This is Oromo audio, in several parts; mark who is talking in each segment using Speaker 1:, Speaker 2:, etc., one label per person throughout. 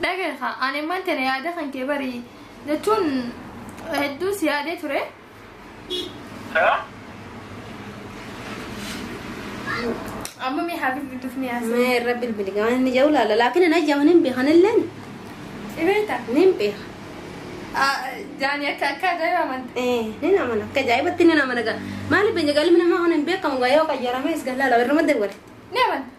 Speaker 1: Dhagee haa ani immoo tana yaada kan kee bari jechuun hedduu si yaadee ture.
Speaker 2: Amma
Speaker 1: mee haa bilbiltuuf ni haasa. Mee irra bilbili gaman
Speaker 3: inni jedhu laala laakiin hin ajjaman hin beekan illeen Dhibeeta.
Speaker 1: ni hin beeka. Jaani akka akka ajaa'iba amanta. Eh, ni nama na akka
Speaker 3: ajaa'ibatti ni nama na gaa. Maaliif biyya galmi namaa kana hin beekamu gaa yoo qayyaramees gallaa lafa irra madda godhe. Ni amanta.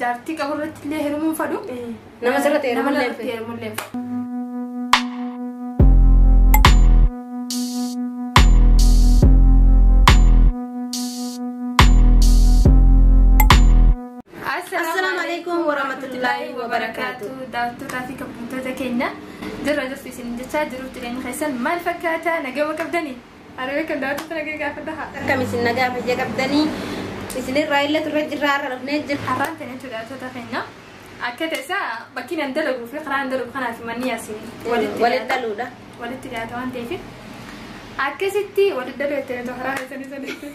Speaker 1: Jaartii qabu irratti illee heerumuu hin fadhu. Nama sirratti heerumuu
Speaker 3: Nama illee hin irratti fedhu.
Speaker 1: heerumuu illee
Speaker 3: hin fedhu. Assalaamu alaikum warahmatullaahi wabarakaatu. Daawwattootaa fi
Speaker 1: kabajamtoota keenya jirra jirtu isin jechaa jiruuf jireenya keessan maal fakkaata nagama qabdanii? Ani beekan daawwattoota nagaa gaafadha haa. Akkam isin nagaa fayya
Speaker 3: qabdanii isinirraa illee turre jirraa har'a dhufnee jirra. Har'aan ta'e jechuudha daawwattoota
Speaker 1: keenya. Akka ta'esa bakki nan dalaguu fi karaa nan dalagu kanaa fi manni yaasiin walitti Walitti dhiyaata. dhaluudha.
Speaker 3: Walitti dhiyaata waan
Speaker 1: ta'eef. Akkasitti walitti daluu jettanii too karaa keessanii sanii.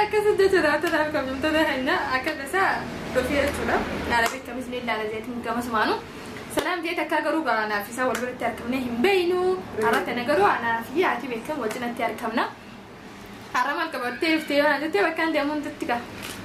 Speaker 3: Akkasuma
Speaker 1: jecha daawwattoota kabajamtoota keenya akka tasaa dhufee jechuudha. Naala beekamis ni ilaala jeetiin gama sumaanu. Salaam jeet akka garuu garaa naaf isaa wal biratti argamnee hin beeynu. Har'a tana garuu anaa fi haati beekamu wajjinatti argamna. Har'a maal qabattee dhuftee yoo na jettee bakka hin deemuun tutti ga'a.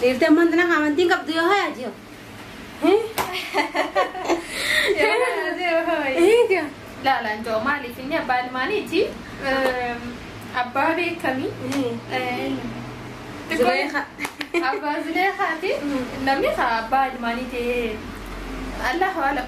Speaker 3: Dhiirti amma intina amantiin qabdu yoo hayaa jiru.
Speaker 1: Eega. Laalaan jiru maaliif inni abbaa ilmaaniiti. Abbaa beekamii. Zuleeqa.
Speaker 3: Abbaa
Speaker 1: Zuleeqaati. Namni isaa abbaa ilmaanii ta'ee. Allahu alam.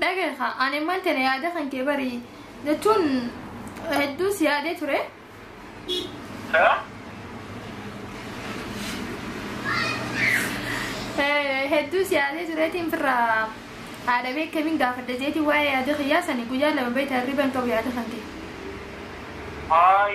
Speaker 2: Dhagahi kaa
Speaker 1: ani imman tana yaada kan kee bari jechuun hedduu si yaadee ture. Eh, Hedduu si yaadee tureetiin firraa haadha beekamiin gaafadha jeetiin waa'ee yaada kiyyaa sani guyyaa lama beektaa hirriban qabu yaada kan kee.
Speaker 2: Ay,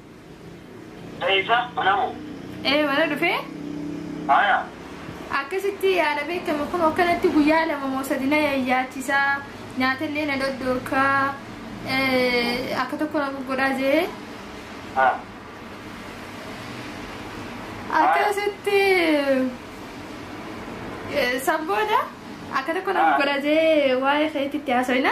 Speaker 2: Dayisa mana moo? Ee mana dhufee.
Speaker 1: Haya. Akkasitti yaala beekama kun akkanatti guyyaa lama moo sadi na yayyaachisaa nyaatallee na dhoddoorkaa akka tokko na goggodhaa jee. Akkasitti san booda akka tokko na goggodhaa jee waa'ee keetitti haasofna.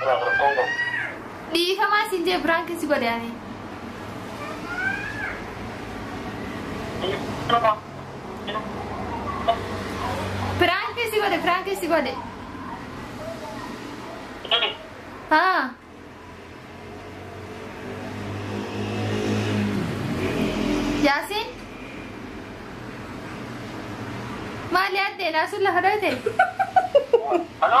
Speaker 1: Biraaf rakkoon qabu. Dhiifamaa siin jee biraan keessi godhe ani. Biraan keessi godhe biraan keessi godhe. Haa. Yaasiin. Maali addeen asuun lafa dhoyte? Halo?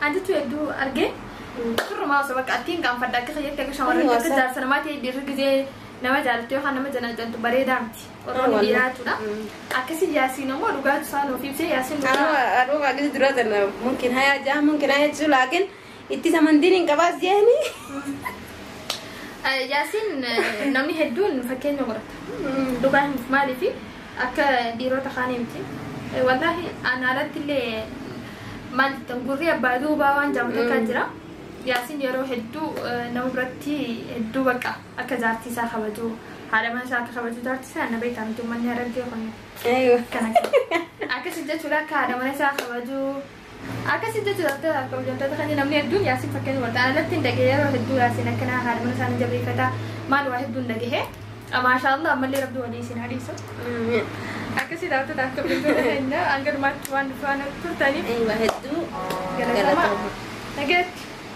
Speaker 1: An jechuu hedduu argee firrumaa osoo bakka attiin gaanfadha akka kiyyaatti akka shamarran Ani akka wasa- jaarsa namaa ta'e dhiirri gizee nama jaalattu yookaan nama janaajantu bareedaa miti. Oromoon Ani wasa- dhiiraa jechuudha. Mm. Akkasii yaasiin ammoo dhugaatu isaa nuuf ibsee yaasiin Anuu dhugaa. aduu kaagis
Speaker 3: duraa tana mumkin hayaa jaa mumkin hayaa jechuu laakin itti samantiin hin qabaas jeeni. Eh,
Speaker 1: Yaasiin eh, namni hedduun fakkeenya godhata. Dhugaa himuuf maaliifi Akka dhiirota kaanii miti. Wallaahi ana alatti illee maal jettan gurri abbaa duubaa waan jaamu takka jira. Yaasiin yeroo hedduu nama biratti hedduu bakka akka jaartii isaa kabaju haadha mana isaa akka kabaju jaartii isaa na beektaa miti uummanni harargee kun. Aywa. Akkana
Speaker 3: akkana.
Speaker 1: Akkasii jechuudha akka haadha mana isaa kabaju Akkasiin jechuudha akka hojjettoota kanneen namni hedduun yaasiin fakkeenya wanta anatti hin dhagee yeroo hedduu yaasiin akkanaa haadha mana isaanii jabeeffata maal waa hedduun dhagahee maashaa Allah ammallee rabbi walii isin hadiisu. Akkasii daawwattoota akka hojjettoota keenya hanga dhumaatti waan turtaniif.
Speaker 3: Eeyyama
Speaker 1: hedduu galatooma. Nagaatti.